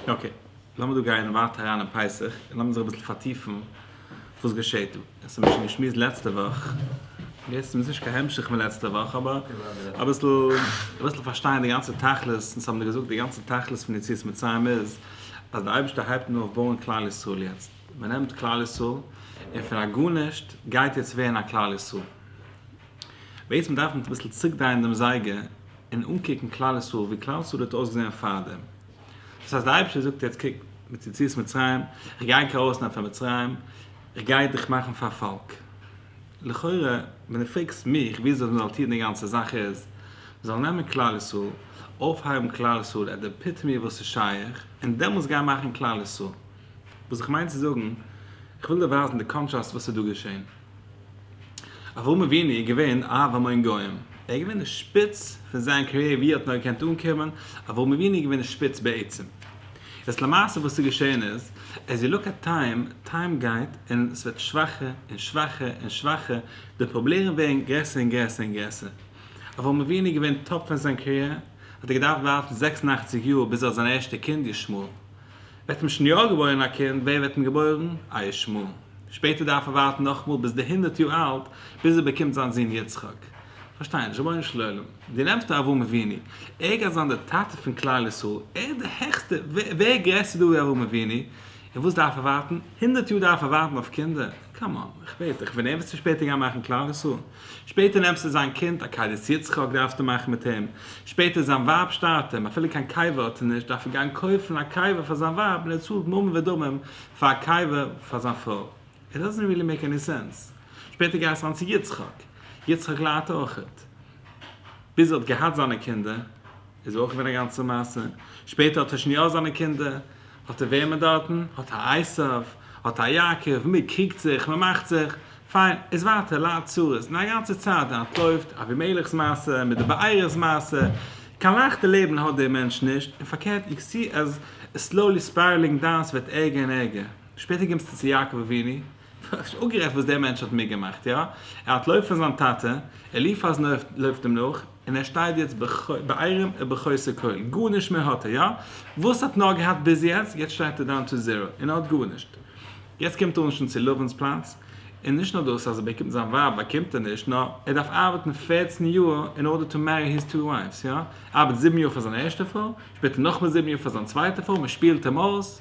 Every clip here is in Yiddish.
אקעי, לאמיר דא גייען ווייטער אריין אין פסח, און לאמיר זיך אביסל פארטיפן וואס געשעהט דא. עס האמיר שוין געשמועסט לעצטע וואך, און דאס איז מיר נישט קיין המשך פון לעצטע וואך, אבער אביסל אביסל פארשטיין די גאנצע תכלית, אונז האמיר געזאגט די גאנצע תכלית פון יציאת מצרים איז, אז דער אייבערשטער הייבט אן אויף בויען כלל ישראל יעצט. מען נעמט כלל ישראל, און פון א גארנישט גייט יעצט ווערן א כלל ישראל. בעצם דארף מען אביסל צוריקדרייען דעם זייגער, און אנקוקן כלל ישראל ווי כלל ישראל האט אויסגעזען פארדעם, דאס הייסט די אייבערשטער זאגט יעצט קוק מיט יציאת מצרים איך גיי דיר ארויסנעמען פון מצרים איך גיי דיך מאכן פאר פאלק, לכאורה ווען דו פרעגסט מיך ווי אזוי מ'זאל טון די גאנצע זאך איז מ'זאל נעמען כלל ישראל אויפהייבן כלל ישראל עט די עפיטעמי וואס איז שייך און דעמאלטס גיין מאכן כלל ישראל, וואס איך מיין צו זאגן איך וויל דיר ווייזן די קאנטראסט וואס איז דא געשען. אברהם אבינו איז געווען אב המון גוים, ער איז געווען די שפיץ פון זיין קאריער ווי ער האט נאר געקענט אנקומען, אברהם אבינו איז געווען די שפיץ בעצם. יעצט למעשה וואס איז געשען איז, עז יו לוק עט טיים, טיים גייט און ס'ווערט שוואכער און שוואכער און שוואכער, די פראבלערן ווערן גרעסער און גרעסער און גרעסער. אברהם אבינו איז געווען טאפ פון זיין קאריער, האט ער געדארפט ווארטן זעקס און אַכציק יאר ביז ער האט זיין ערשטע קינד ישמעאל. וועט אים שניאור געבוירן א קינד, ווער וועט אים געבוירן? א ישמעאל. שפעטער דארף ער ווארטן נאכאמאל ביז די הונדערט יאר אלט, ביז ער באקומט זיין זון יצחק. פארשטיי נישט, רבונו של עולם, דו נעמסט א אברהם אבינו, ער גייט זיין דער טאטע פון כלל ישראל, ער איז דער העכסטער, ווער גרעסער דא ווי אברהם אבינו, און וואס דארף ער ווארטן? הונדערט יאר דארף ער ווארטן אויף קינדער? קאם אן, איך בעט דיך, ווען ער וועט זיך שפעטער גיין מאכן כלל ישראל, שפעטער נעמסטו זיין קינד א קיידעס יצחק דארפסטו מאכן מיט אים, שפעטער זיין ווייב שטארט אים, אפילו קיין קאווע האט ער נישט דארף ער גיין קויפן א קאווע פאר זיין ווייב און ער צאלט ממון ודמים פאר א קאווע פאר זיין פרוי, איט דאזענט ריעלי מעיק עני סענס, שפעטער גייסטו אריין צו יצחק, יצחק ליידט אויכעט, ביז ער האט געהאט זיינע קינדער איז ער אויך געווען א גאנצע מעשה, שפעטער האט ער שוין יא זיינע קינדער. האט ער וועמען דארטן? האט ער עשיו? האט ער יעקב? מען קריגט זיך, מען מאכט זיך. פיין, איז ווייטער לייט צרות, די גאנצע צייט די אנטלויפט, אבימלך'ס מעשה, מיט די בעירה'ס מעשה, קיין לייכטע לעבן האט דער מענטש נישט, און פארקערט איך זי אז סלאולי ספיירלינג דאון סוועט ערגער און ערגער, שפעטער קומסטו צו יעקב אבינו, איך האב שוין אפגערעדט וואס דער מענטש האט מיטגעמאכט, יא, ער האטלויף פון זיין טאטע, אליפז לויפט אים נאך, און ער שטייט יעצט בעירום ובחוסר כל, גארנישט מער האט ער, יא, וואס האט נאר געהאט ביז יעצט, יעצט שטייט ער דאון טו זירא, און ער האט גארנישט, יעצט קומט ער אנשטאנד צו לבן'ס פלאץ, און נישט נאר דאס אז ער באקומט זיין ווייב באקומט ער נישט, נאר ער דארף ארבעטן פערצן יאר אין ארדער טו מערי היז טו ווייפס, יא, ער ארבעט זיבן יאר פאר זיין ערשטע פרוי, שפעטער נאכמער זיבן יאר פאר זיין צווייטע פרוי, מען שפילט אים אויס,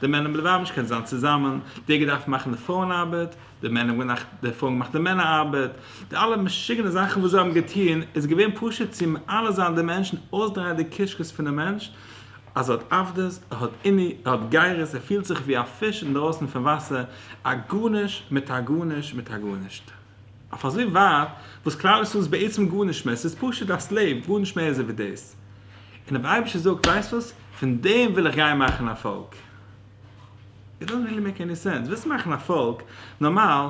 די מענער האבן לבבש קענען זיין צוזאמען, דער געדארפט מאכן די פרויען ארבעט, די מענער האבן געמאכט די פרויען געמאכט די מענער ארבעט, די אלע משוגענע זאכן וואס זיי האבן געטון איז געווען פשוט צו מעלה זיין די מענטשן, אויסדרייען די קישקעס פונעם מענטש אז ער האט עבדות, ער האט עוני, ער האט גרות, ער פילט זיך ווי א פיש אינדרויסן פון וואסער, א גארנישט מיט א גארנישט מיט א גארנישט. אויף אזוי ווייט וואס כלל ישראל איז בעצם גארנישט מער, ס'איז פשוט א סלעיוו, גארנישט מער איז ער ווי דאס. און דער אייבערשטער זאגט, ווייסט וואס? פון דעם וויל איך גיין מאכן א פאלק. איט דאזענט ריעלי מעיק עני סענס. ווילסט מאכן א פאלק, נארמאל,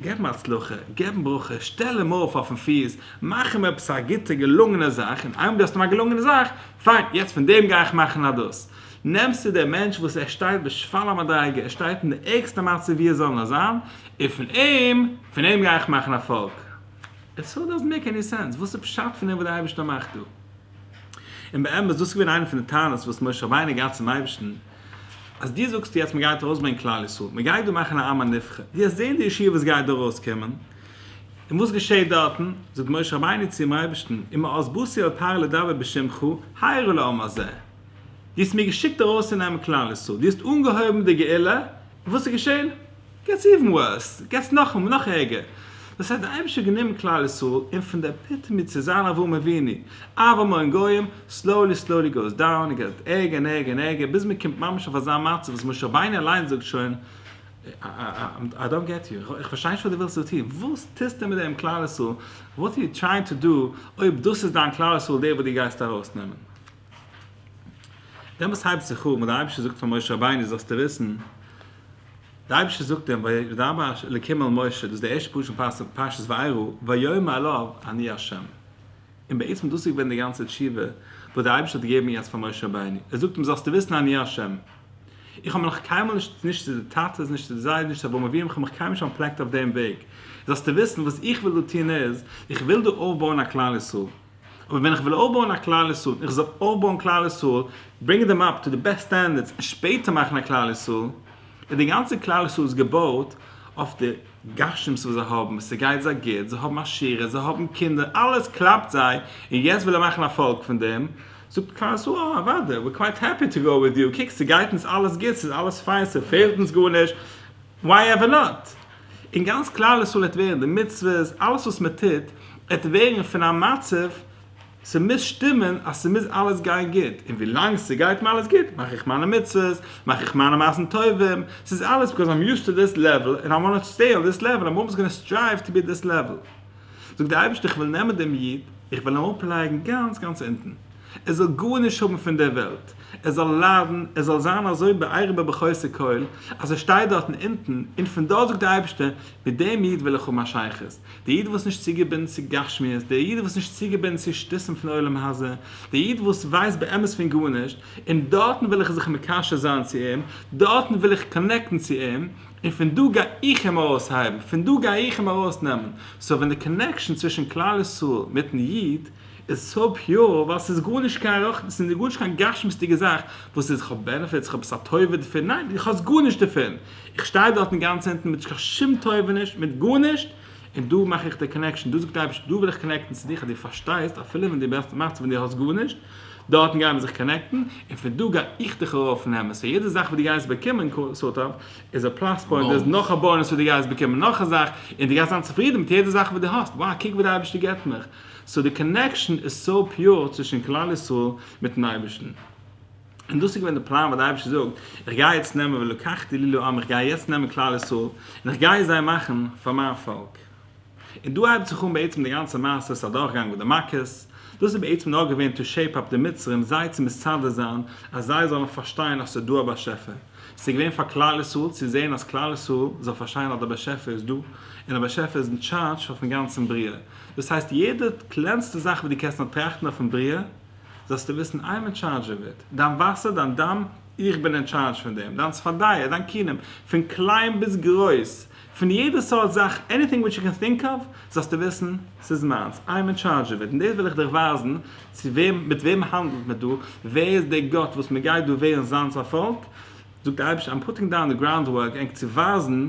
געב אים הצלחה, געב אים ברכה, שטעל אים אויף אויפן פיס, מאך אים עפעס א גוטע געלונגענע זאך, און איינמאל דו האסט אים א געלונגענע זאך, פיין, יעצט פון דעם גיי איך מאכן א דאס. נעמסטו דעם מענטש וואס ער שטייט בשפל המדרגה, ער שטייט אין די ערגסטע מצב ווי עס זאל נאר זיין, און פון אים, פון אים גיי איך מאכן א פאלק? איט סאו דאזענט מעיק עני סענס, וואס איז פשט פון דעם וואס דער אייבערשטער מאכט דא? און באמת, דאס איז געווען איינע פון די טענות וואס משה רבינו געהאט צום אייבערשטן, אז דו זאגסט יעצט מען גייט ארויסברענגען כלל ישראל, מען גייט דא מאכן א עם הנבחר, דו האסט געזען די ישועה וואס גייט דא ארויסקומען, און וואס געשעהט דארטן? זאגט משה רבינו צום אייבערשטן, אם העזבותי אל תהר לדבר בשמך, הירא לעם הזה. דו האסט מיר געשיקט ארויסצונעמען כלל ישראל, דו האסט אנגעהויבן די גאולה, און וואס איז געשען? געטס איווען ווארס, געטס נאך ערגער. דאס הייסט די אייבערשטער האט גענומען כלל ישראל און פון די עפיטעמי צו זיין אברהם אבינו, אהבה מאור גויים, סלאולי סלאולי גאוס דאון, און געט ערגער און ערגער און ערגער, ביז מען קומט ממש אויף אזא מצב וואס משה רבינו אליין זאגט שוין, איי דאנט געט יו, איך פארשטיי נישט וואס דו ווילסט דא טון, וואס טוסטו מיט דעם כלל ישראל, וואט אר יו טרייענד טו דא, אויב דאס איז דיין כלל ישראל דער וואס דו גייסט ארויסנעמען. דעמאלס הייבט זיך אן ווען דער אייבערשטער זאגט פאר משה רבינו זאלסטו וויסן, דער אייבערשטער זאגט אים וידבר ה' אלקים אל משה, דאס איז די ערשטע פסוק אין פרשת וירא, ויאמר אליו אני ה'. און בעצם דאס איז געווען די גאנצע תשובה וואס דער אייבערשטער האט געגעבן יעצט פאר משה רבינו, ער זאגט אים זאלסטו וויסן אני ה'. איך האב מיך נאך קיינמאל נישט, נישט צו די טאטעס, נישט צו די זיידעס, נישט צו אברהם אבינו, איך האב מיך קיינמאל נישט אנטפלעקט אויף דעם וועג. זאלסטו וויסן וואס איך וויל דא טון איז, איך וויל דא אויפבויען א כלל ישראל. אבער ווען איך וויל אויפבויען א כלל ישראל, איך זאל אויפבויען כלל ישראל, ברענגען דעם אפ טו די בעסט סטענדערדס און שפעטער מאכן א כלל ישראל, און די גאנצע כלל ישראל איז געבויט אויף די גשמות וואס זיי האבן, ס'גייט זיי גוט, זיי האבן עשירות, זיי האבן קינדער, אלעס קלאפט זיי, און יעצט וויל ער מאכן א פאלק פון דעם, זאגט כלל ישראל אה, אוודאי, ווער קווייט העפי טו גאו וויט יו, קוק ס'גייט אונז אלעס גוט, ס'איז אלעס פיין, ס'פעלט אונז גארנישט, וויי עווער נאט! און גאנץ כלל ישראל עט ווערן, די מצוות, אלעס וואס מען טוט, עט ווערן פון א מצב, ס'מוז שטימען אז ס'מוז אלעס גיין גוט, און ווילאנג ס'גייט מיר אלעס גוט, מאך איך מיינע מצוות, מאך איך מיינע מעשים טובים, ס'איז אלעס ביקאוז איים יוזד טו דיס לעוועל, און איי וואנט טו סטעי אן דיס לעוועל, און איים אלוועיס גאנא סטרייוו טו בי אט דיס לעוועל. זאג דער אייבערשטער איך וויל נעמען דעם איד, איך וויל אים אראפלייגן גאנץ גאנץ אונטן, ער זאל גארנישט האבן פון דער וועלט, ער זאל ליידן, ער זאל זיין אזוי בעירום בבחוסר כל, אז ער שטייט דארטן אונטן, און פון דארט זאגט דער אייבערשטער, מיט דעם איד וויל איך האבן א שייכות, דער איד וואס נישט צוגעבינדן צו גשמיות, דער איד וואס נישט צוגעבינדן צו שטותים פון עולם הזה, דער איד וואס ווייסט באמת פון גארנישט, און דארטן וויל איך זיך מקשר זיין צו אים, דארטן וויל איך קאנעקטן צו אים, און פון דא גיי איך אים ארויס הייבן, פון דא גיי איך אים ארויס נעמען, סאו ווען די קאנעקשאן צווישן כלל ישראל מיטן איד איז סאו פיור, ווייל ס'איז גארנישט קיין רוחני, ס'איז גארנישט קיין גשמיות'דיגע זאך וואס איז כ'האב בענעפיטס, כ'האב עפעס א טובה דערפון, ניין איך האב גארנישט דערפון, איך שטיי דארט אינגאנצן אונטן מיט קיין שום טובה נישט, מיט גארנישט, און דא מאך איך די קאנעקשאן, דא זאגט די אייבערשטער דא וויל איך קאנעקטן צו דיך אז דו פארשטייסט אפילו ווען דו מאכסט ווען דו האסט גארנישט, דארטן גייען מיר זיך קאנעקטן, און פון דא גיי איך דיך ארויף נעמען, סאו יעדע זאך וואס דו גייסט באקומען סארט אוו איז א פלאס פוינט, דאס איז נאך א באונעס וואס דו גייסט באקומען נאך א זאך, און דו גייסט זיין צופרידן מיט יעדע זאך וואס דו האסט, wow קוק וואס די אייבערשטער געבט מיך, סאו די קאנעקשאן איז סאו פיור צווישן כלל ישראל מיטן אייבערשטן, און דאס איז געווען די פלאן וואס די אייבערשטער זאגט איך גיי יעצט נעמען ולקחתי לי לעם איך גיי יעצט נעמען כלל ישראל און איך גיי זיי מאכן פאר מיין פאלק. און דא הייבט זיך אן בעצם די גאנצע מעשה ס'א דורכגאנג מיט די מכות, דאס איז בעצם נאר געווען טו שעיפ אפ די מצרים זיי צו מסדר זיין אז זיי זאלן פארשטיין אז ס'איז דא א באשעפער, ס'איז געווען פאר כלל ישראל צו זען אז כלל ישראל זאל פארשטיין אז דער באשעפער איז דא, און א באשעפער איז אין טשארדזש אויפן גאנצן בריאה, דאס הייסט יעדע קלענסטע זאך וואס דו קענסט נאר טראכטן אויפן בריאה זאלסטו וויסן איים אין טשארדזש אוו איט, דיין וואסער, דיין דם, איך בין אין טשארדזש פון דעם, דיין צפרדע, דיין כינם, פון קליין ביז גרויס, פון יעדע סארט זאך, עניטינג וויטש יו קען טינק אוו, זאלסטו וויסן, ס'איז מיינס, איי עם אין טשארדזש אוו איט, און דאס וויל איך דיך ווייזן, צו וועם, מיט וועם האנדלט מען דא, ווער איז דער גאט וואס מען גייט דא ווערן זיינס א פאלק, זאגט דער אייבערשטער, איים פוטינג דאון די גראונד ווארק ענק צו ווייזן,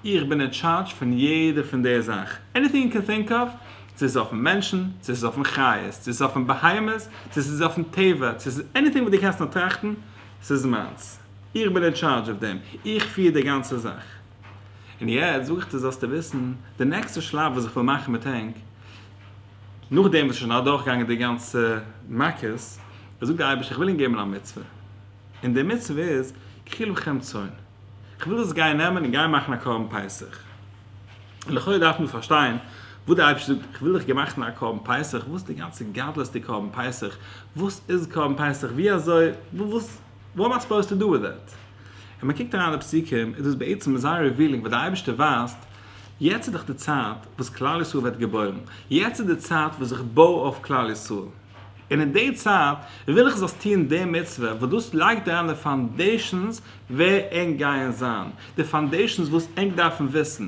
איך בין אין טשארדזש פון יעדע פון די זאך, עניטינג יו קען טינק אוו, צו ס'איז אויפן מענטשן, צו ס'איז אויפן חיות, צו ס'איז אויפן בהמות, צו ס'איז אויפן טבע, צו ס'איז עניטינג וואס דו קענסט נאר טראכטן, ס'איז מיינס, איך בין אין טשארדזש אוו דעם, איך פיר די גאנצע זאך. און יעצט זאג איך דיר זאלסטו וויסן, די נעקסטע שלב וואס איך וועל מאכן מיט ענק, נאכדעם וואס עס איז שוין אדורכגעגאנגען די גאנצע מכות, זאגט דער אייבערשטער איך וויל ענק געבן א מצוה, און די מצוה איז, קחי לכם צאן, איך וויל דאס גיין נעמען און גיין מאכן א קרבן פסח. לכאורה דארף מען פארשטיין וואס דער אייבערשטער זאגט, איך וויל דיך געמאכן א קרבן פסח, וואס איז די גאנצע גדלות די קרבן פסח, וואס איז קרבן פסח, ווי אזוי, וואס. וואט עם איי סופאוזד טו דא וויט דעט? און מען קוקט אריין אין די פסוקים איז דאס בעצם אזא רעווילינג וואס די אייבערשטער ווייזט, יעצט איז דאך די צייט וואס כלל ישראל ווערט געבוירן, יעצט איז די צייט וואס איך בוי אויף כלל ישראל, און אין די צייט וויל איך זאלסט טוען די מצוה, וואס דאס לייגט אריין די פאנדעישאנס ווער ענק גייען זיין, די פאנדעישאנס וואס ענק דארפן וויסן.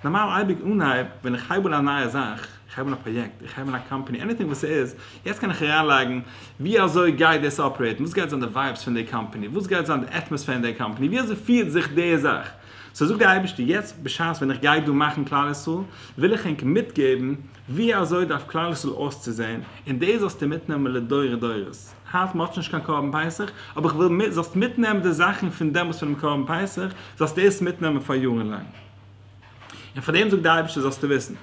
נארמאל אייביג אנהייב ווען איך הייב אן א נייע זאך, איך הייב אן א פראיעקט, איך הייב אן א קאמפאני, עניטינג וואס ס'איז, יעצט קען איך אריינלייגן ווי אזוי גייט דאס אפערעיטן, וואס גייט זיין די ווייבס פון די קאמפאני, וואס גייט זיין די עטמאספער אין די קאמפאני, ווי אזוי פירט זיך די זאך. סאו זאגט דער אייבערשטער, יעצט בשעת ווען איך גיי דא מאכן כלל ישראל, וויל איך ענק מיטגעבן, ווי אזוי דארף כלל ישראל אויסצוזעהן, און דאס זאלסטו מיטנעמען לדורי דורות, היינט מען האט שוין נישט קיין קרבן פסח, אבער איך וויל זאלסט מיטנעמען די זאכן פון דעמאלס פונעם קרבן פסח, זאלסטו דאס מיטנעמען פאר יארן לאנג. און פאר דעם זאגט דער אייבערשטער זאלסטו וויסן,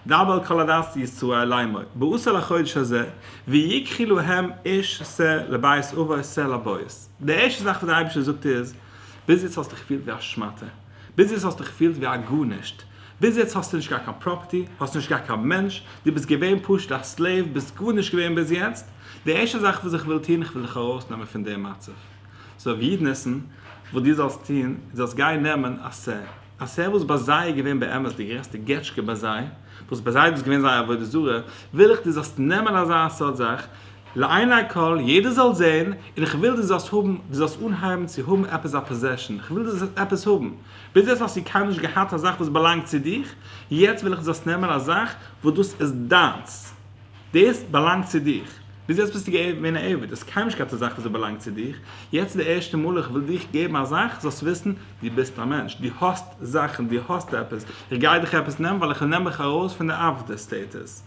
דבר אל כל הדת ישראל לאמור, באות אל החודש הזה, ויקחי להם איש ס ה לבית אביו ס ה לבית. די ערשטע זאך וואס דער אייבערשטער זאגט איז, ביז יעצט האסטו געפילט ווי א שמאטע, ביז יעצט האסטו געפילט ווי א גארנישט, ביז יעצט האסטו נישט געהאט קיין פראפערטי, האסט נישט געהאט קיין מענטש, דו ביסט געווען פשוט א סלעיוו, ביסט גארנישט געווען ביז יעצט, די ערשטע זאך וואס איך וויל טון, איך וויל דיך ארויסנעמען פון די מצב. סאו ווי יעדן עסן וואס דו זאלסט טון, דו זאלסט גיין נעמען א סער. א סער וואס ביי זיי איז געווען באמת די גרעסטע געטשקע ביי זיי, וואס ביי זיי איז דאס געווען זייער עבודה זרה, וויל איך דו זאלסט נעמען אזא סארט זאך, לעיני כל, יעדער זאל זען, און איך וויל דו זאלסט האבן, דו זאלסט אנהייבן צו האבן עפעס א פאזעשאן, איך וויל דו זאלסט עפעס האבן, ביז יעצט האסטו קיינמאל נישט געהאט א זאך וואס באלאנגט צו דיך, יעצט וויל איך דו זאלסט נעמען א זאך וואס דאס איז דיינס, דאס באלאנגט צו דיך, ביז יעצט ביסטו געווען א עבד, האסט קיינמאל נישט געהאט א זאך וואס באלאנגט צו דיך, יעצט איז די ערשטע מאל איך וויל דיך געבן א זאך זאלסט וויסן, דו ביסט א מענטש, דו האסט זאכן, דו האסט עפעס, איך גיי דיך עפעס נעמען ווייל איך וויל נעמען דיך ארויס פון די עבדות סטעיטוס,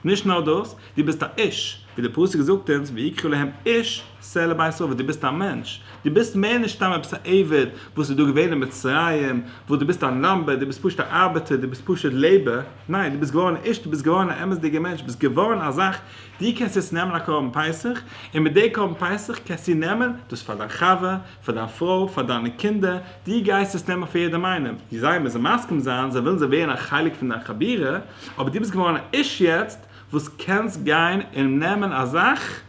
נישט נאר דאס, דו ביסט א איש, ווי דער פסוק זאגט אונז ויקרא להם איש סלע בית סוה, דו ביסט א מענטש, דו ביסט מער נישט סתם עפעס א עבד וואס איז דא געווען אין מצרים, וואס דו ביסט א נאמבער, דו ביסט פשוט א ארבעטער, דו ביסט פשוט לעבער, ניין, דו ביסט געווארן א איש, דו ביסט געווארן א אמת'דיגער מענטש, ביסט געווארן א זאך, דו קענסט יעצט נעמען א קרבן פסח, און מיט די קרבן פסח קענסטו נעמען דאס פאר דיין חבר, פאר דיין פרוי, פאר דיינע קינדער, דו גייסט עס נעמען פאר יעדעם איינעם, זיי מוזן מסכים זיין, זיי ווילן זיי ווערן א חלק פון דיין חבירה, אבער דו ביסט געווארן א איש יעצט, וואס קענסט גיין און נעמען א זאך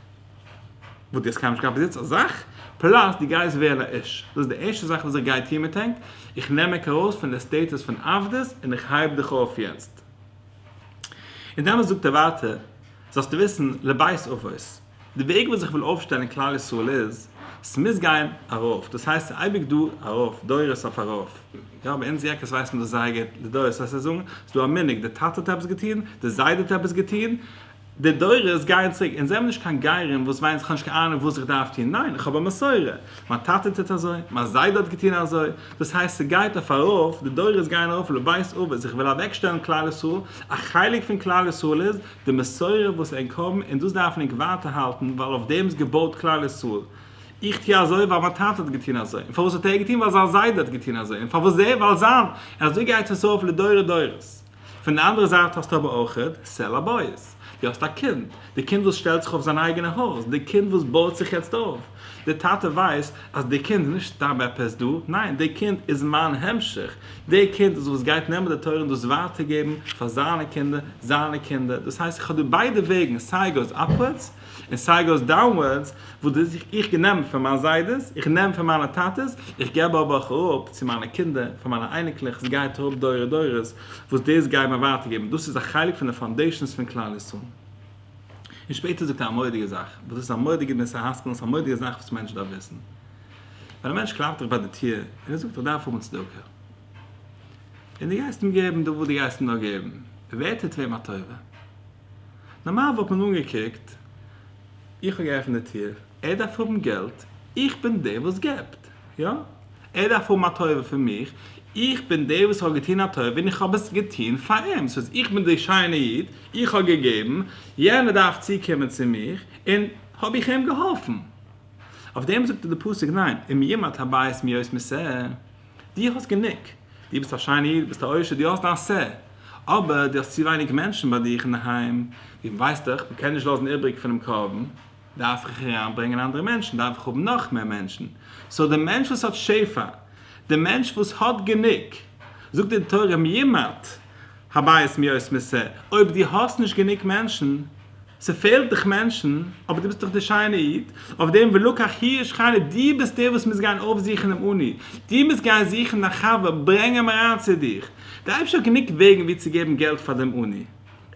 וואס דו האסט קיינמאל נישט געהאט ביז יעצט א זאך, פלאס דו גייסט ווערן א איש, דאס איז די ערשטע זאך וואס איך גיי טון מיט ענק, איך נעם ענק ארויס פון די סטעטוס פון עבדות און איך הייב דיך אויף יעצט. און דעמאלטס זאגט ער ווייטער, זאלסטו וויסן לבית אבות. די וועג וואס איך וויל אויפשטעלן כלל ישראל איז, ס'מוז גיין ארויף, דאס הייסט ס'איז אייביג דא ארויף, דורות אויף ארויף, יא ביי אונז יעקעס ווייסט מען דאס זייער גוט, די דורות וועסט זיי זאגן, ס'איז דא א מנהג, די טאטע האט עפעס געטון, די זיידע האט עפעס געטון, די דורות גייען צוריק, אונז זעמיר נישט קיין גרים וואס וויינען כ'האב נישט קיין אהנונג וואס איך דארף טון, ניין, איך האב א מסורה, מיין טאטע טוט אזוי, מיין זיידע האט געטון אזוי, דאס הייסט ס'גייט אויף ארויף, די דורות גייען ארויף לבית אבות, איך וויל אוועקשטעלן כלל ישראל, א חלק פון כלל ישראל איז, די מסורה וואס ענק האבן און דאס דארף ענק ווייטער האלטן ווייל אויף דעם איז געבויט כלל ישראל, איך טוה אזוי ווייל מיין טאטע האט געטוהן אזוי, און פארוואס האט ער געטוהן ווייל זיין זיידע האט געטוהן אזוי, און פארוואס דער ווייל זיין, און אזוי גייט עס אויף לדורי דורות. פון די אנדערע זייט האסטו אבער אויכעט סעל הבית, דו האסט א קינד, די קינד וואס שטעלט זיך אויף זיין אייגענע הויז, די קינד וואס בויט זיך יעצט אויף, די טאטע ווייסט אז די קינד איז נישט סתם עפעס דא, ניין, די קינד איז מיין המשך, די קינד איז וואס גייט נעמען די תורה און דאס ווייטער געבן פאר זיינע קינדער, זיינע קינדער, דאס הייסט איך האב דא ביידע וועגן, סיי גאוס אפווארדס, און סיי גאוס דאונווארדס, וואס דאס איך איך נעם פון מיין זיידעס, איך נעם פון מיינע טאטעס, איך געב אבער אויך אראפ צו מיינע קינדער, פאר מיינע אייניקלעך, עס גייט אראפ דורי דורות, וואס דאס גייען מיר ווייטער געבן, דאס איז א חלק פון די פאונדעישאנס פון כלל ישראל. און שפעטער זאגט ער א מורא'דיגע זאך, וואס דאס איז א מורא'דיגע מוסר השכל, און ס'איז א מורא'דיגע זאך וואס מענטש דארף וויסן. ווען א מענטש קלאפט דיך ביי די טיר, און ער זאגט איך דארף האבן צדקה. און דו גייסט אים געבן דא וואס דו גייסט אים נאר געבן. ווער טוט וועם א טובה? נארמאל וואלט מען אנגעקוקט, איך האב געעפנט די טיר, ער דארף האבן געלט, איך בין דער וואס געבט. יא, ער דארף האבן א טובה פון מיך, איך בין דער וואס האט געטון א טובה און איך האב עס געטון פאר אים, דאס הייסט איך בין דער שיינע איד, איך האב געגעבן, יענער דארף צוקומען צו מיך, און האב איך אים געהאלפן. אויף דעם זאגט די פסוק ניין, אם ימעט הבית מיאוס מסאה, דו האסט גענוג, דו ביסט א שיינע איד, דו ביסט א עושר, דו האסט דיין סה, אבער דו האסט צו ווייניג מענטשן ביי דיך אינדערהיים, דו ווייסט דאך, מען קען נישט לאזן איבריג פונעם קרבן, דארף איך אריינברענגען אנדערע מענטשן, דארף איך האבן נאך מער מענטשן, סאו די מענטש וואס האט שפע, די מענטש וואס האט גענוג, זאגט די תורה מימות הבית מיאוס מסע, אויב דו האסט נישט גענוג מענטשן, ס'פעלט דיך מענטשן, אבער דו ביסט דאך דער שיינער איד, אויף דעם ולקח הירש חני, דו ביסט דער וואס מוז גיין אויפזוכן דעם אני, דו מוזט גיין זוכן דיין חבר, ברענג אים אריין צו דיך, די אייבערשטער האט גענוג וועגן ווי צו געבן געלט פאר דעם אני.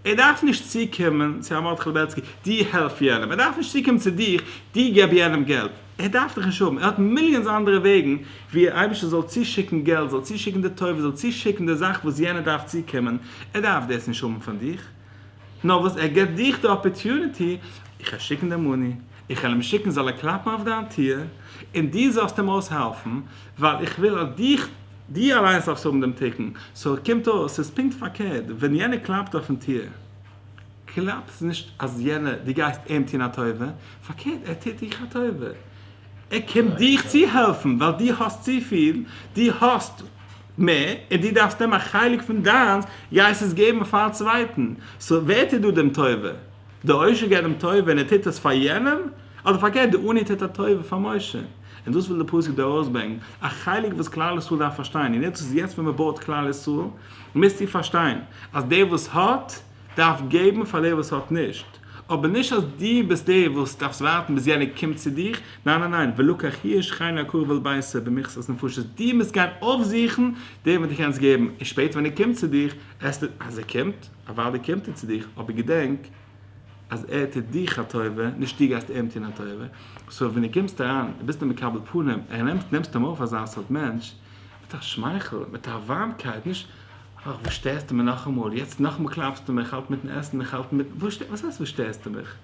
ער דארף נישט צוקומען צו הרב מרדכי לעבעצקי, דו העלף יענעם, ער דארף נישט צוקומען צו דיך, דו געב יענעם געלט, ער דארף דיך נישט האבן, ער האט מיליאנס אנדערע וועגן ווי דער אייבערשטער זאל צושיקן געלט, זאל צושיקן די טובה, זאל צושיקן די זאך וואס יענער דארף צוקומען, ער דארף דאס נישט האבן פון דיך, נאר וואס ער געבט דיך די אפערטוניטי, איך וועל שיקן דעם מאני, איך וועל אים שיקן זאל ער קלאפן אויף דיין טיר, און דו זאלסט אים אויסהעלפן, ווייל איך וויל אז דו אליין זאלסט האבן דעם תיקון, סאו קומט אויס ס'איז פונקט פארקערט, ווען יענער קלאפט אויפן טיר, קלאפט נישט אז יענער, דו גייסט אים טון א טובה, פארקערט ער טוט דיך א טובה, ער קומט דיך צו העלפן, ווייל דו האסט צופיל, דו האסט מער, און דו דארפסט אים א חלק פון דיינס, גייסט עס געבן פארן צווייטן, סאו ווער טוט דא דעם טובה? דער עושר געבט דעם טובה און ער טוט עס פאר יענעם, אדער פארקערט דער עני טוט א טובה פאר משה? און דאס וויל די פסוק דא ארויסברענגן, א חלק וואס כלל ישראל דארף פארשטיין, און יעצט איז יעצט ווען מען בויעט כלל ישראל, מוזטו פארשטיין אז דער וואס האט דארף געבן פאר דער וואס האט נישט, אבער נישט אז דו ביסט דער וואס דארפסט ווארטן ביז יענער קומט צו דיך, ניין ניין ניין, ולקח הירש חיין לעקור ועל בייסער במכסת נפשות, דו מוזט גיין אויפזוכן דעם וואס דו קענסט געבן, און שפעטער ווען ער קומט צו דיך, עסט ער, אז ער קומט, אוודאי קומט ער צו דיך, אבער געדענק, אז ער טוט דיך א טובה, נישט דו גייסט אים טון א טובה, סאו ווען דו קומסט אריין און ביסט א מקבל פנים און נעמסט אים אויף אזא סארט מענטש, מיט א שמייכל, מיט א ווארמקייט, נישט אך וואס שטערסטו מיר נאכאמאל, יעצט נאכאמאל קלאפסטו מיר, איך האלט מיטן עסן, איך האלט מיט, וואס הייסט וואס שטערסטו מיך?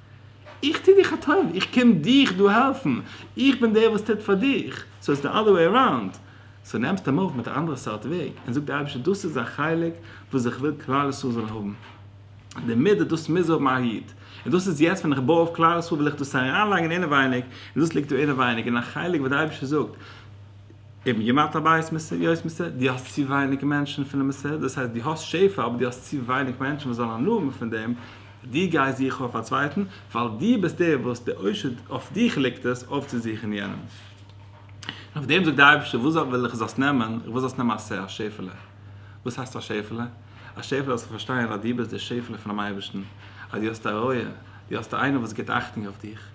איך טו דיך א טובה, איך קום דיך דא העלפן, איך בין דער וואס טוט פאר דיך, סאו איז די אדער וועי אראונד, סאו נעמסט אים אויף מיט א אנדערע סארט וועג, און זאג די אייבערשטער דאס איז א חלק וואס איך וויל כלל ישראל זאל האבן. די מידה דאס מוז האבן א היד, און דאס איז יעצט ווען איך בוי אויף כלל ישראל וויל איך דאס אריינלייגן אינעווייניג, און דאס ליגט דא אינעווייניג אין א חלק וואס די אייבערשטער זאגט אום ימת הבית מס' יוט מס', דו האסט צו ווייניג מענטשן פונעם מס', דאס הייסט דו האסט שפע אבער דו האסט צו ווייניג מענטשן וואס זאלן הנאה האבן פון דעם, דו גייסט זוכן אויף א צווייטן, ווייל דו ביסט דער וואס די עושר אויף דיך ליגט עס אויפצוזוכן יענעם. און אויף דעם זאגט די אייבערשטער וואס וויל איך זאלסט נעמען, איך וויל זאלסט נעמען א שפע, א שפעלע. וואס הייסט א שעפעלע? א שעפעלע זאלסטו פארשטיין אז דו ביסט די שעפעלע פונעם אייבערשטן, אז דו האסט א רועה, דו האסט איינער וואס גיבט אכטונג אויף דיך,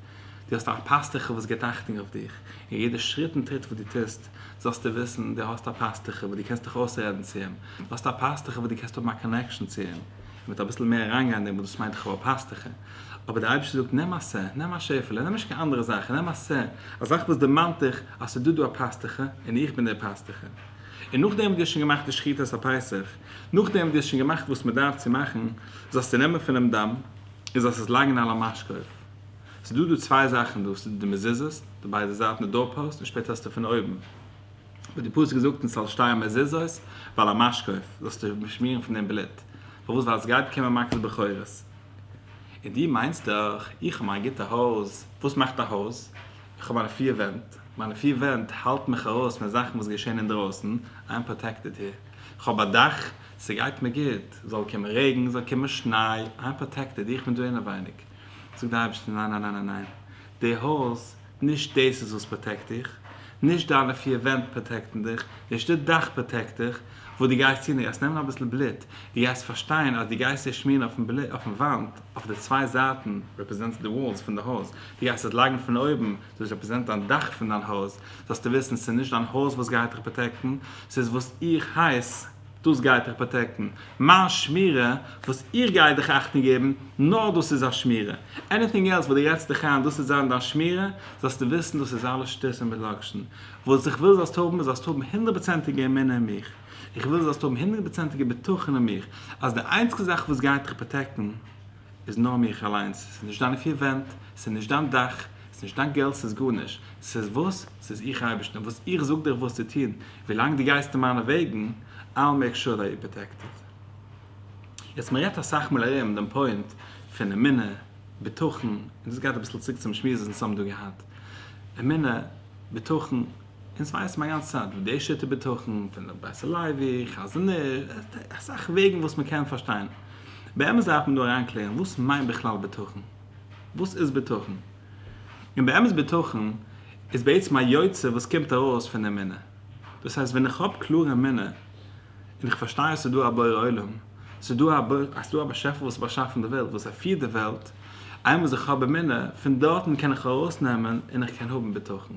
דו האסט א פאסטוכער וואס גיבט אכטונג אויף דיך, און יעדע שריט און טריט וואס דו טוסט זאלסטו וויסן דו האסט א פאסטוכער וואס דו קענסט דיך אויסרעדן צו אים, דו האסט א פאסטוכער וואס דו קענסט האבן א קאנעקשאן צו אים, און מ'וועט אביסל מער אריינגיין אין דעם וואס דאס מיינט איך האב א פאסטוכער, אבער דער אייבערשטער זאגט נעם א ס', נעם א שעפעלע, נעם נישט קיין אנדערע זאכן, נעם א ס', א זאך וואס דערמאנט דיך אז ס'איז דא דא א פאסטוכער און איך בין דער פאסטוכער. און נאכדעם וואס דו האסט שוין געמאכט די שחיטת הפסח, נאכדעם וואס דו האסט שוין געמאכט וואס מען דארף צו מאכן, זאלסטו נעמען פונעם דם, און זאלסט עס לייגן על המשקוף. ס'איז דא דא צוויי זאכן דא, ס'איז דא די מזוזות, די ביידע זייטן די דאור פאוסט, און שפעטער האסטו פון אויבן, וואס די פסוק זאגט אונז ס'זאל שטייען מזוזות ועל המשקוף, זאלסטו באשמירן פון דעם בלוט. פארוואס? ווייל עס גייט קומען מכת בכורות. און דו מיינסט דאך, איך האב מיין גוטע הויז, וואס מאכט א הויז? איך האב מיינע פיר ווענט. מיינע פיר ווענט האלטן מיך ארויס פון זאכן וואס געשען אינדרויסן, איי עם פראטעקטעד העיר. כ'האב א דאך, ס'גייט מיר גוט, זאל קומען רעגן, זאל קומען שניי, איי עם פראטעקטעד, איך בין דא אינעווייניג. זאגט די אייבערשטער, ניין ניין ניין ניין, די הויז, נישט דאס איז וואס פראטעקט דיך, נישט דיינע פיר ווענט פראטעקטן דיך, נישט די דאך פראטעקט דיך, וואס דו גייסט טון, דו גייסט נעמען אביסל בלוט, דו גייסט פארשטיין אז דו גייסט דאס שמירן אויפן וואנט, אויף די צוויי זייטן, רעפרעזענטס די וואלס פון די הויז, דו גייסט עס לייגן פון אויבן, זאגסט רעפרעזענט דיין דאך פון דיין הויז, זאלסטו וויסן ס'איז נישט דיין הויז וואס גייט דיך פראטעקטן, ס'איז וואס איך הייס, דאס גייט דיך פראטעקטן. מיין שמירה וואס איך גיי דיך אכטונג געבן, נאר דאס איז א שמירה. עניטינג עלס וואס דו רעדסט דיך איין דאס זאל זיין דיין שמירה, זאלסטו וויסן דאס איז אלעס שטות און מלקשן. וואס איך וויל זאלסט האבן איז זאלסט האבן הונדערט פראצענטיגע אמונה אין מיך. איך וויל זאלסט האבן הונדערט פראצענטיגע בטחון אין מיך אז די איינציגסטע זאך וואס גייט דיך פראטעקטן, איז נאר מיך אליינס, ס'איז נישט דיינע פיר ווענט, ס'איז נישט דיין דאך, ס'איז נישט דיין געלט, ס'איז גארנישט, ס'איז וואס? ס'איז איך אייבערשטען וואס איך זאג דיך וואס צו טון, ווילאנג דו גייסט אין מיינע וועגן, I'll make sure that you're protected. יעצט מ'רעדט אסאך מאל ארום דעם פוינט פון אמונה, בטחון, און דאס גייט אביסל צוריק צום שמועס וואס אונז האבן דא געהאט, אמונה, בטחון, אונז ווייסן א גאנצע צייט וואס די שטר בטחון פון די בית הלוי, חזון איז, עס איז דא אסאך וועגן וואס מען קען פארשטיין. באמת דארף מען דא אריינקלערן וואס מיינט בכלל בטחון? וואס איז בטחון? און באמת בטחון איז בעצם א יוצא וואס קומט ארויס פון אמונה. דאס הייסט ווען איך האב קלאר אמונה און איך פארשטיי עס איז דא א בורא עולם, עס איז דא א עס איז דא א באשעפער וואס האט באשאפן די וועלט, וואס ער פירט די וועלט, איינמאל איך האב אמונה, פון דארטן קען איך ארויסנעמען און איך קען האבן בטחון.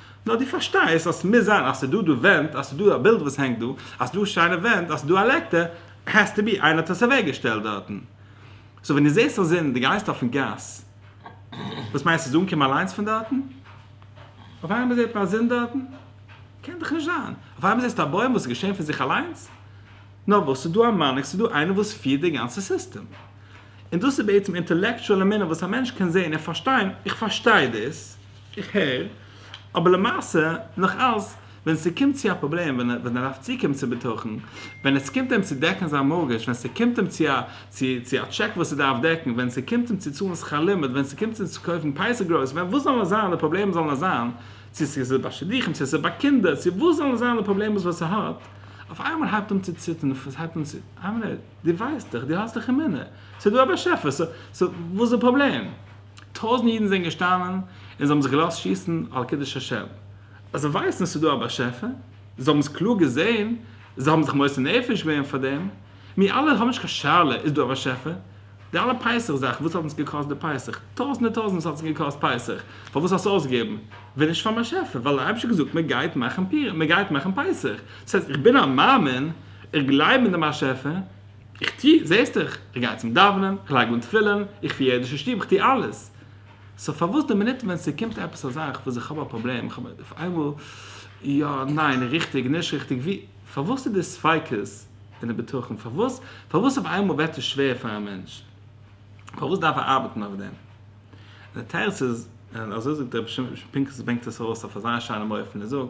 נאר דו פארשטייסט אז ס'מוז זיין אז ס'דא דא ווענט, אז ס'דא א בילד וואס הענגט דא, אז ס'דא שיינע ווענט, אז ס'דא א לעקטער, העז טו בי איינער האט עס אוועק געשטעלט דארטן. סאו ווען דו זעסט א זון און דו גייסט אויפן גאס, וואס מיינסטו ס'איז אנגעקומען אליינס פון דארטן? אויף איינמאל זעט מען א זון דארטן? קען דאך נישט זיין. אויף איינמאל זעסטו א בוים וואס איז געשען פון זיך אליינס? נאר וואס, ס'דא א מנהיג, ס'דא איינער וואס פירט די גאנצע סיסטעם. און דאס איז בעצם אינטעלעקטשועל אמונה וואס א מענטש קען זען און פארשטיין, איך פארשטיי דאס, איך הער, אבער למעשה נאך אלס ווען ס'קומט צו א פראבלעם ווען ער דארף צוקומען צו בטחון, ווען עס קומט אים צו דעקן זיין מארגעזש, ווען ס'קומט אים צו א צו א טשעק וואס ער דארף דעקן, ווען ס'קומט אים צו צאלן שכר לימוד, ווען ס'קומט אים צו קויפן פייסע גרויס, ווען וואס זאלן עס זיין די פראבלעמען זאלן עס זיין, צו ס'איז ביי שידוכים צו ס'איז ביי קינדער, צו וואס זאלן עס זיין די פראבלעמעס וואס ער האט, אויף איינמאל הייבט אן צו ציטערן פון ס'הייבט אן צו אהן, דו ווייסט דאך, דו האסט דאך אמונה, ס'איז דא א באשעפער, סאו וואס איז די פראבלעם? טויזנט אידן זענען געשטאנען און זיי האבן זיך געלאזט שיסן על קידוש השם, אז זיי ווייסן עס איז דא א באשעפער, זיי האבן עס קלאר געזען, זיי האבן זיך מוסר נפש געווען פאר דעם, מיר אלע האבן נישט קיין שאלה איז דא א באשעפער, די אלע פסח זאכן וואס האט אונז געקאסט די פסח, טויזנטער טויזנטער האט עס געקאסט פסח, פארוואס האסט אויסגעגעבן, ווען נישט פארן באשעפער, ווייל דער אייבערשטער האט געזאגט מען גייט מאכן פורים, מען גייט מאכן פסח, דאס הייסט איך בין א מאמין, איך גלייב אין דעם באשעפער, איך טו, זעסט דיך, איך גיי צום דאווענען, איך לייג אן תפילין, איך פיר אידישע שטוב, איך טו אלעס. סאו פארוואס די מינוט ווען ס'קומט עפעס א זאך וואס איך האב א פראבלעם, איך האב אויף איינמאל יא, ניין, ריכטיג, נישט ריכטיג, ווי, פארוואס איז די ספיקות אין די בטחון, פארוואס, פארוואס אויף איינמאל ווערט עס שווער פאר א מענטש, פארוואס דארף ער ארבעטן אויף דעם? און די תירוץ איז, און אזוי זאגט רבי שמעון פינקל זי ברענגט עס ארויס אויף אזא שיינעם אופן, ער זאגט.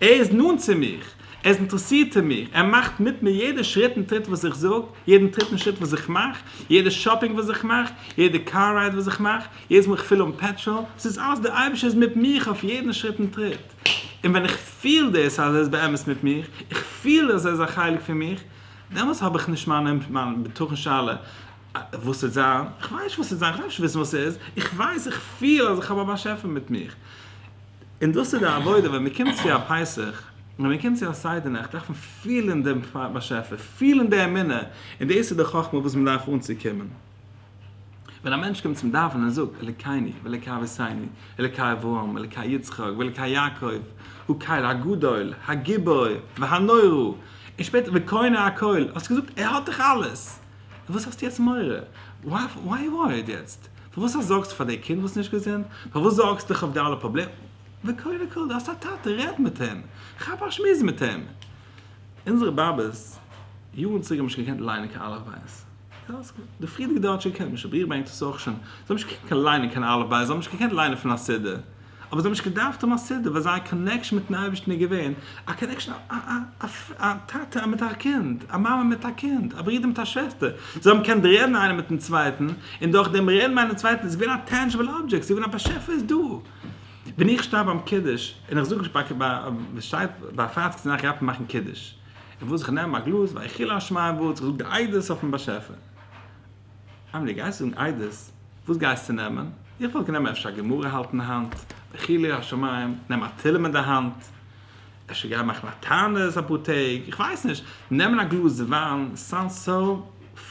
ער איז נאנט צו מיך, ער איז אינטערעסירט אין מיך, ער מאכט מיט מיר יעדע שריט און טריט וואס איך זאג, יעדן טריט און שריט וואס איך מאך, יעדע שאפינג וואס איך מאך, יעדע קאר רייד וואס איך מאך, יעדעס מאל איך פיל אן פעטראל, עס איז אלעס דער אייבערשטער איז מיט מיך אויף יעדן שריט און טריט, און ווען איך פיל דאס אז ער איז באמת מיט מיך, איך פיל אז ער איז א חלק פון מיך, דעמאלס האב איך נישט מיין בטחון שאלה וואס וועט זיין, איך ווייס נישט וואס וועט זיין, איך דארף נישט וויסן וואס עס איז, איך ווייס, איך פיל אז איך האב א באשעפער מיט מיך. און דאס איז די עבודה, ווען מען קומט צו א פסח, און ווען מען קומט צו א סדר נאכט, דארף מען פילען דעם באשעפער, פילען די אמונה, און דאס איז די חכמה וואס מען דארף אנצוקומען. ווען א מענטש קומט צום דאווענען און זאגט, אלוקינו ואלוקי אבותינו, אלוקי אברהם, אלוקי יצחק, ואלוקי יעקב, הוא קאיל הגדול, הגיבור, והנורא, און שפעטער וקונה הכל, האסט געזאגט, ער האט דאך אלעס! וואס האסטו יעצט מורא? וואי וואי וואי האט יעצט? פארוואס א זארגסטו פאר דעי קינד וואס נישט געזונט? פארוואס זארגסט דיך אויף די אלע פראבלעם? וקודם כל די האסט א טאטע רעד מיט אים, כאפ א שמועס מיט אים. אונזערע באבעס יארן צוריק האבן נישט געקענט ליינען קיין אלף בית. די פריערדיגע דור האט שוין געקענט, משביר בענק דאס אויך שוין. זיי האבן נישט געקענט ליינען קיין אלף בית, זיי האבן נישט געקענט ליינען פון א סידור. אבער זיי האבן נישט געדארפט האבן א סידור, ווייל זייער קאנעקשאן מיטן אייבערשטן איז געווען א קאנעקשאן א טאטע מיט א קינד, א מאמע מיט א קינד, א ברודער מיט א שוועסטער, זיי האבן געקענט רעדן איינער מיטן צווייטן, און דורך דעם רעדן איינער מיטן צווייטן איז געווען א טענדזשיבל אבדזשעקט, ס'איז געווען א באשעפער איז דא. ווען איך שטיי ביים קידוש, און איך זאג נישט ביי שטייט ביי א פארציקן זאך איך דארף מאכן קידוש, און וואס איך נעם א גלאז ויחי לה' און וואס איך זאג די עדות אויפן באשעפער. אמער די גייסט זאגן איידעס, וואס גייסטו נעמען? איך וואלט גענומען אפשר א גמרא האלט אין האנט, אבער חילול השמים, נעם א תהלים אין די האנט, אפשר גיי מאכן א תענית אפאר טעג, איך ווייס נישט, נעמען א גלאז וויין, סאונדס סאו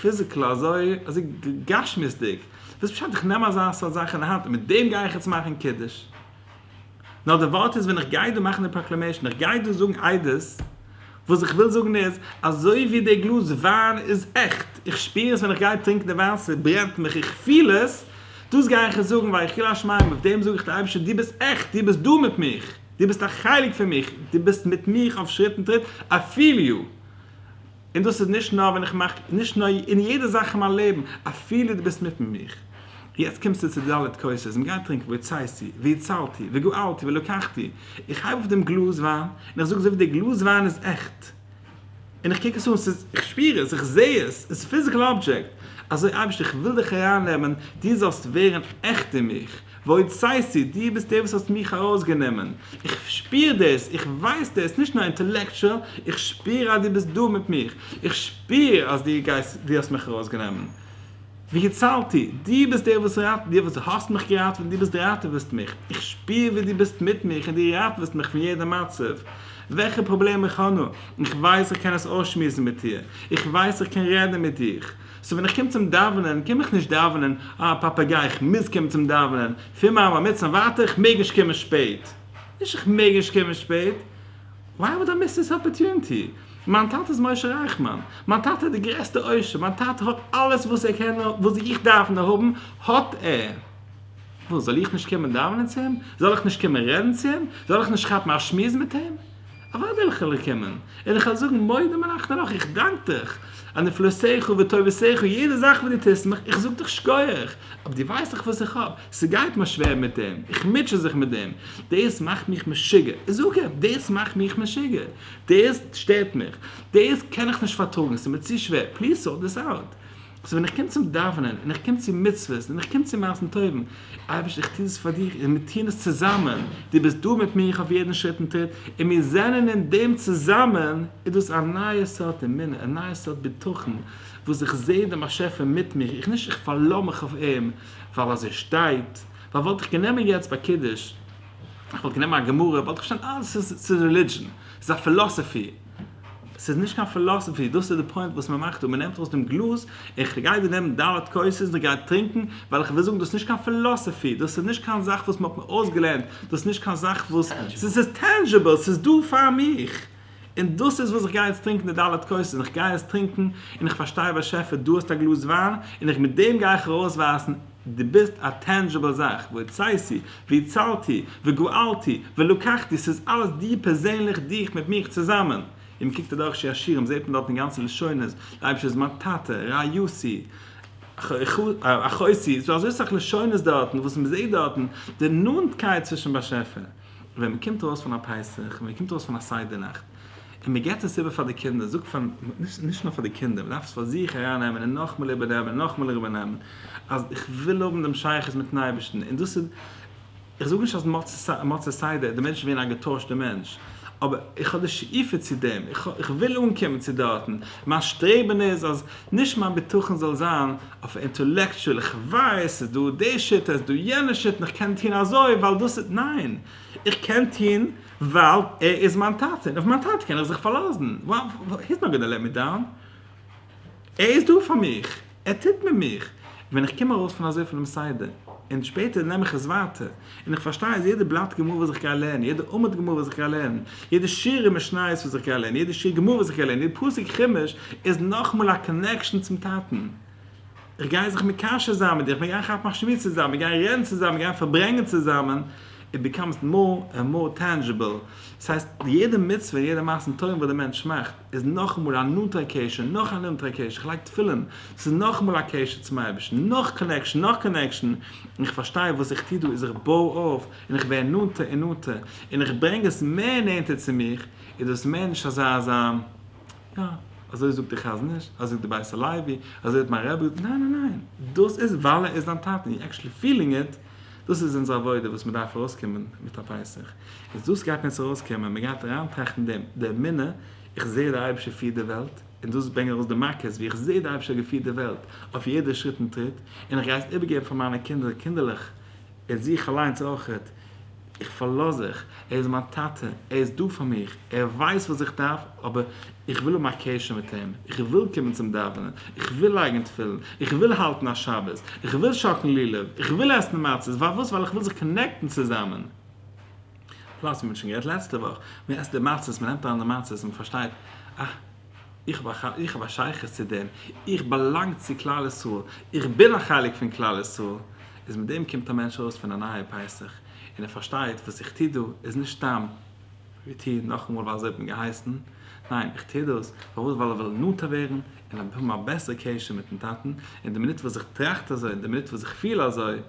פיזיקל אזוי אזוי גשמיות'דיג, וואס פשט איך נעם אזא סארט זאך אין די האנט און מיט דעם גיי איך יעצט מאכן קידוש? נאר די ווארט איז ווען איך גיי דא מאכן די פראקלעמעישן, איך גיי דא זאגן עדות, וואס איך וויל זאגן איז, אזוי ווי די גלאז וויין איז עכט, איך שפיר עס ווען איך גיי טרינקן די וויין, ס'ברענט מיך, איך פיל עס, דאס גיי איך עס זאגן ויחיל השמים, אויף דעם זאג איך דיר אייבערשטער דו ביסט עכט, דו ביסט דא מיט מיך, דו ביסט א חלק פון מיך, דו ביסט מיט מיך אויף שריט און טריט, איי פיל יו. און דאס איז נישט נאר ווען איך מאך, נישט נאר, אין יעדע זאך אין מיין לעבן, אפילו דו ביסט מיטן מיך. יעצט קומסטו צו די ד' כוסות, און גיי טרינק, והוצאתי, והצלתי, וגאלתי, ולקחתי. איך הייב אויף דעם גלאז וויין, און איך זאג אזוי ווי דער גלאז וויין איז עכט, און איך קוק עס אן, ס'איז, איך שפיר עס, איך זע עס, עס איז פיזיקעל אבדזשעקט, אזוי אייבערשטער איך וויל דיך ארייננעמען, דו זאלסט ווערן עכט אין מיך, ועוד סייסי, דו ביסט דער וואס האסט מיך ארויסגענומען, איך שפיר דאס, איך ווייס דאס, נישט נאר אינטעלעקטשועל, איך שפיר אז דו ביסט דא מיט מיך, איך שפיר אז דו גייסט, דו האסט מיך ארויסגענומען. והצלתי, דו ביסט דער וואס ראט, דו וואס האסט מיך געראטעוועט און דו ביסט ראטעוועסט מיך, איך שפיר ווי דו ביסט מיט מיך און דו ראטעוועסט מיך פון יעדע מצב. וועלכע פראבלעם איך האב נאר, איך ווייס איך קען עס אויסשמועסן מיט דיר, איך ווייס איך קען רעדן מיט דיך, סאו ווען איך קום צום דאווענען קום איך נישט דאווענען, אה פאפאגיי איך מוז קומען צום דאווענען, פון מיין בר מצוה און ווייטער איך מעג נישט קומען שפעט, נישט איך מעג נישט קומען שפעט, וויי וואד איי מיס דיס אפערטוניטי, מיין טאטע איז משה רייכמאן, מיין טאטע איז די גרעסטע עושר, מיין טאטע האט אלעס וואס ער קען נאר וואס איך דארף נאר האבן האט ער, וואס זאל איך נישט קומען דאווענען צו אים, זאל איך נישט קומען רעדן צו אים, זאל איך נישט כאפן א שמועס מיט אים? אוואו וועל איך אווער קומען? און איך וועל זאגן מודה מלאכתך לך, איך דאנק דיך על נפלאותיך וטובותיך, יעדע זאך וואס דו טוסט מיך, איך זאג דיך שכוח, אבער דו ווייסט דאך וואס איך האב, ס'גייט מיר שווער מיט דעם, איך מוטשע זיך מיט דעם, דאס מאכט מיך משוגע, איך זאג אים, דאס מאכט מיך משוגע, דאס שטערט מיך, דאס קען איך נישט פארטראגן, ס'איז מיר צו שווער, פליז סארט דיס אוט. סאו ווען איך קום צום דאווענען און איך קום צו מצוות און איך קום צו מעשים טובים, אייבערשטער איך טו דאס פאר דיר און מיר טוען עס צוזאמען, דו ביסט דא מיט מיר אויף יעדן שריט און טריט און מיר זענען אין דעם צוזאמען, איז דאס א נייע סארט אמונה, א נייע סארט בטחון, וואס איך זע דעם באשעפער מיט מיר, איך נישט איך פארלאר מיך אויף אים ווייל אז ער שטייט, ווייל וואלט איך גענומען יעצט ביי קידוש, איך וואלט גענומען א גמרא, וואלט איך פארשטאנען אה, ס'איז רעלידזשען, ס'איז א פילאסעפי. ס'איז נישט קיין פילאסעפי, דאס איז די פוינט וואס מען מאכט דא, מען נעמט ארויס דעם גלאז, איך גיי דיר נעמען ד' כוסות און דו גיי טרינקען, ווייל איך וויל זאגן דאס איז נישט קיין פילאסעפי, דאס איז נישט קיין זאך וואס מען האט מיר אויסגעלערנט, דאס איז נישט קיין זאך וואס, ס'איז ס'איז טענזשיבל, ס'איז דא פאר מיך, און דאס איז וואס איך גיי יעצט טרינקען די ד' כוסות, איך גיי עס טרינקען, און איך פארשטיי באשעפער דו האסט א גלאז וויין, און איך מיט דעם גיי איך ארויסווייזן. דו ביסט א טענדזשיבל זאך, ויצאתי, והצלתי, וגואלתי, ולקחתי, ס'איז אלעס דיר פערזענליך, דיך מיט מיך צוזאמען. און מ'קוקט אדורך שיר השירים זעהט מען דארטן די גאנצע לשונות, דער אייבערשטער איז מיין טאטע, רעיתי, אחותי, ס'דא אזוי סאך לשונות דארטן וואס מ'זעהט דארטן די נאנטקייט צווישן באשעפער. און ווען מ'קומט ארויס פון א פסח, און מ'קומט ארויס פון א סדר נאכט, און מען גיבט עס איבער פאר די קינדער, זאגט פאר, נישט נאר פאר די קינדער, מען דארף עס פאר זיך אריין נעמען און נאכמאל איבער נעמען און נאכמאל איבער נעמען, אז איך וויל האבן דעם שייכות מיטן אייבערשטן, און דאס איז, איך זאג נישט אז מצות סדר די מענטש איז געווען א געטוישטער מענטש, אבער איך האב די שאיפה צו דעם, איך וויל אנקומען צו דארטן, מיין שטרעבען איז אז נישט מיין בטחון זאל זיין אויף אינטעלעקטשועל, איך ווייס ס'איז דא די שיטה, ס'איז דא יענע שיטה, איך קען טון אזוי ווייל דאס איז, ניין! איך קען טון. ווייל ער איז מיין טאטע און אויף מיין טאטע קען איך זיך פארלאזן, היז נאט גאנא לעט מי דאון, ער איז דא פאר מיך, ער טוט מיט מיך, ווען איך קום ארויס פון אזוי פונעם סדר און שפעטער נעם איך עס ווייטער און איך פארשטיי אז יעדע בלאט גמרא וואס איך גיי לערנען, יעדע עמוד גמרא וואס איך גיי לערנען, יעדע שורה אין משניות וואס איך גיי לערנען, יעדע שיר גמרא וואס איך גיי לערנען, יעדע פסוק חומש איז נאכאמאל א קאנעקשאן צום טאטן. איך גיי זיך מקשר זיין מיט דיר, כ'וועל גיין כאפן א שמועס צוזאמען, מיר גייען רעדן צוזאמען, מיר גייען פארברענגען צוזאמען, איט ביקאמס מאר ענד מאר טענדזשיבל. דאס הייסט, יעדע מצוה, יעדע מעשה טובים וואס דער מענטש מאכט, איז נאכאמאל א נאנטער קשר, נאך א נאנטערע קשר, איך לייג תפילין, עס איז נאכאמאל א קשר צום אייבערשטן, נאך קאנעקשאן, נאך קאנעקשאן, און איך פארשטיי וואס איך טו דא איז איך בוי אויף, און איך ווער נאנטער און נאנטער, און איך ברענג עס מער נענטער צו מיך, איז דאס מער נישט אזא אזא. יא, אזוי זאגט דער חזון איש, אזוי זאגט דער בית הלוי, אזוי האט מיין רבי געזאגט, ניין ניין ניין, דאס איז ווייל ער איז דיין טאטע, און יו עקשעלי פילינג איט, דאס איז אונזער עבודה וואס מען דארף ארויסקומען מיט א פסח, איז דאס גייט מען יעצט ארויסקומען, מען גייט אריינטראכטן דעם, די אמונה, איך זע דער אייבערשטער פירט די וועלט, און דאס ברענגען ארויס די מכות, ווי איך זע דער אייבערשטער האט געפירט די וועלט, אויף יעדע שריט און טריט, און איך גיי עס איבערגעבן פאר מיינע קינדער קינדערלעך, איך זוך אליינס אויך, איך פארלאז זיך, ער איז מיין טאטע, ער איז דא פאר מיך, ער ווייסט וואס איך דארף, אבער איך וויל האבן א קשר מיט אים, איך וויל קומען צום דאווענען, איך וויל לייגן תפילין, איך וויל האלטן א שבת, איך וויל שאקן לולב, איך וויל עסן מצות, פארוואס? ווייל איך וויל זיך קאנעקטן צוזאמען. פלאס ווי מען האט שוין גערעדט לעצטע וואך, מען עסט די מצות, מען נעמט אריין די מצות, מען פארשטייט, אה. איך האב א שייכות צו דעם, איך באלאנג צו כלל ישראל, איך בין א חלק פון כלל ישראל, איז מיט דעם קומט א מענטש ארויס פון א נייע פסח, און ער פארשטייט וואס איך טו דא איז נישט סתם ווי טו נאכאמאל ווייל אזוי האט מען געהייסן, ניין איך טו דאס פארוואס ווייל איך וויל נאנטער ווערן און האבן א בעסערע קשר מיטן טאטן, און די מינוט וואס איך טראכט אזוי און די מינוט וואס איך פיל אזוי,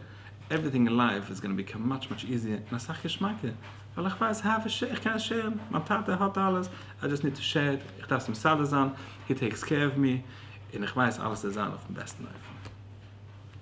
עווריטינג אין לייף איז גאנא ביקאם מאטש מאטש איזיער און אסאך געשמאקער. ווייל איך ווייס האביך שער, איך קען שערן, מיין טאטע האט אלעס, איי דזשאסט ניד טו שער, איך דארף עס מסדר זיין, הי טעיקס קער אוו מי, און איך ווייס אלעס צו זיין אויפן בעסטן אופן.